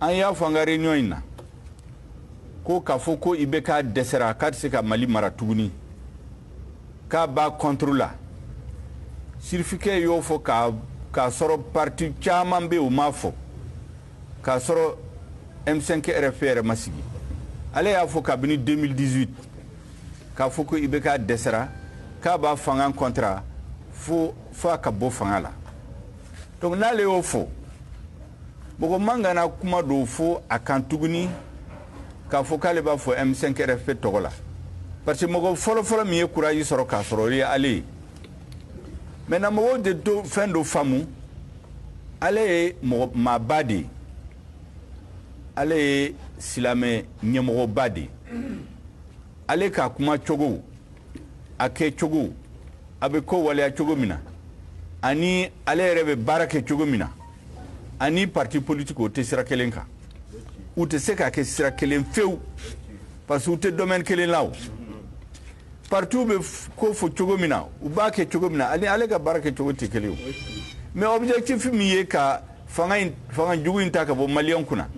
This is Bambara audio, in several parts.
an y'a fɔ an ka réunion in na ko k'a fɔ ko ibk dɛsɛra k'a tɛ se ka mali mara tuguni k'a b'a contre la sirifikɛ y'o fɔ k'a sɔrɔ parti caman bɛ yen u m'a fɔ k'a sɔrɔ m5 rfp yɛrɛ ma sigi ale y'a fɔ kabini 2018 k'a fɔ ko ibk dɛsɛra k'a b'a fanga contre fo a ka bɔ fanga la donc n'ale y'o fɔ mɔgɔ man kan ka kuma dɔw fɔ a kan tuguni k'a fɔ k'ale b'a fɔ m5 rfp tɔgɔ la parce que mɔgɔ fɔlɔfɔlɔ min ye courage sɔrɔ k'a sɔrɔ o ye ale ye maintenant mɔgɔw de to fɛn dɔ faamu ale ye mɔgɔ maaba de ye ale ye silamɛ ɲɛmɔgɔba de ye ale ka kuma cogo a kɛ cogo a bɛ ko waleya cogo min na ani ale yɛrɛ bɛ baara kɛ cogo min na ani parti politique o tɛ sira kelen kan u tɛ se ka kɛ sira kelen fewu parce que u tɛ domaine kelen la o partiw bɛ ko fɔ cogo min na u b'a kɛ cogo min na ani ale ka baara kɛ cogo tɛ kelen o mais objectif min ye ka fanga jugu in ta ka bɔ maliyɛn kunna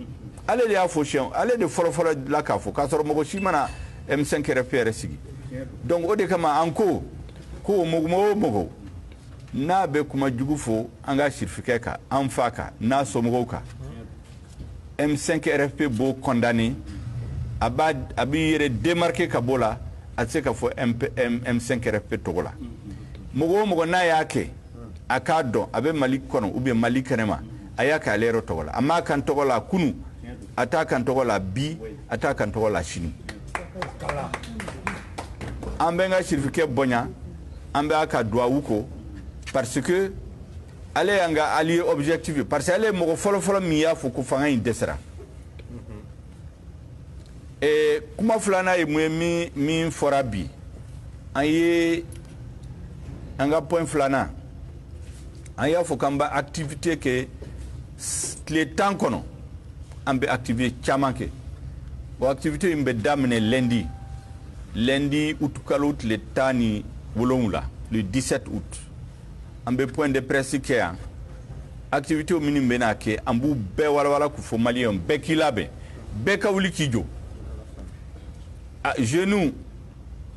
ale de y'a fɔ siyɛn ale de fɔlɔfɔlɔ la k'a fɔ k'a sɔrɔ mɔgɔ si ma na M5 RFP yɛrɛ sigi donc o de kama an ko ko mɔgɔ o mɔgɔ n'a bɛ kuma jugu fɔ an ka sirifikɛ kan an fa kan n'a somɔgɔw kan M5 RFP b'o condamné a b'a a b'i yɛrɛ démarquer ka bɔ la a tɛ se ka fɔ M5 RFP tɔgɔ la mɔgɔ o mɔgɔ n'a y'a kɛ a k'a dɔn a bɛ mali kɔnɔ ou bien mali kɛnɛma a y'a k'ale yɛrɛ tɔgɔ la a m'a k'an tɔgɔ la kunu a t'a k'an tɔgɔ la bi a t'a k'an tɔgɔ la sini an b'an ka sirifikɛ bonya an bɛ a ka duwawu kɔ parce que ale y'an ka allié objectif ye parce que ale ye mɔgɔ fɔlɔfɔlɔ min y'a fɔ ko fanga in dɛsɛra Ee kuma filanan ye mun ye min fɔra bi an ye an ka point filanan an y'a fɔ k'an bɛ activité kɛ tile tan kɔnɔ an bɛ activité caman kɛ o activité in bɛ daminɛ lundi lundi utukalo tile tan ni wolonwula le dix-sept août an bɛ point de presse kɛ yan activités minnu bɛna kɛ an b'u bɛɛ walawala k'u fɔ maliyɛnw bɛɛ k'i labɛn bɛɛ ka wuli k'i jɔ jeunes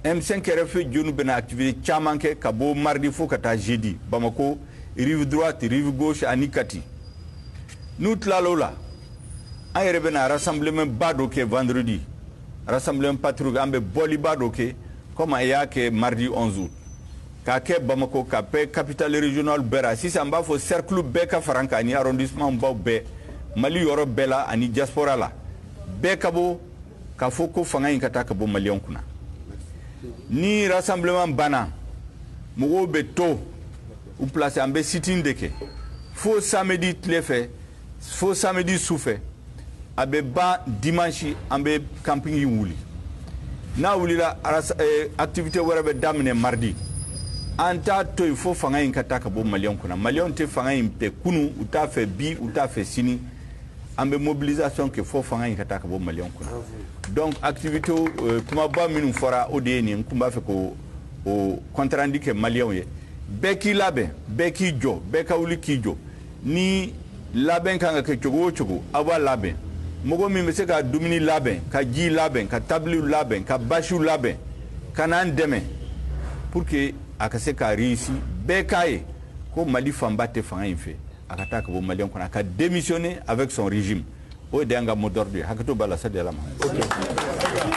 M5 RFP jeunes bɛna activité caman kɛ ka bɔ mardi fo ka taa jeudi Bamako rive droite rive gauche ani Kati n'u tilala o la an yɛrɛ bɛna rassemblement ba dɔ kɛ vendredi rassemblement patriotique an bɛ bɔliba dɔ kɛ comme a y'a kɛ mardi 11 août K'a kɛ Bamako k'a kɛ capitale régionale bɛɛ ra, sisan n b'a fɔ cercle bɛɛ ka fara an kan ani arrondissement baw bɛɛ, Mali yɔrɔ bɛɛ la ani diaspora la, bɛɛ ka bɔ k'a fɔ ko fanga in ka taa ka bɔ Maliens kun na. Ni rassemblement banna, mɔgɔw bɛ to u place an bɛ sit-in de kɛ fo samedi tile fɛ. fo samedi su fɛ a bɛ ban dimanche an bɛ camping in wuli n'a wulila eh, activité wɛrɛ bɛ daminɛ mardi an t'a to yen fo fanga in ka taa ka bɔ maliyɛnw kunna maliyɛnw tɛ fanga in fɛ kunu u t'a fɛ bi u t'a fɛ sini an bɛ mobilisation kɛ fo fanga in ka taa ka bɔ maliyɛnw kunna donc activité eh, kumaba minnu fɔra o de ye nin n tun b'a fɛ k'o compte rendu kɛ maliyɛnw ye bɛɛ k'i labɛn bɛɛ k'i jɔ bɛɛ ka wuli k'i jɔ ni labɛn ka kan ka kɛ cogo o cogo aw b'a labɛn mɔgɔ min bɛ se ka dumuni labɛn ka ji labɛn ka tabiliw labɛn ka basiw labɛn ka n'an dɛmɛ pour que a ka se ka réussir bɛɛ k'a ye ko mali fanba tɛ fanga in fɛ a ka taa ka bɔ maliyɛnw kunna a ka démissionner avec son régime o de y'an ka mot d'ordre ye hakɛto b'a la sali ala muhamad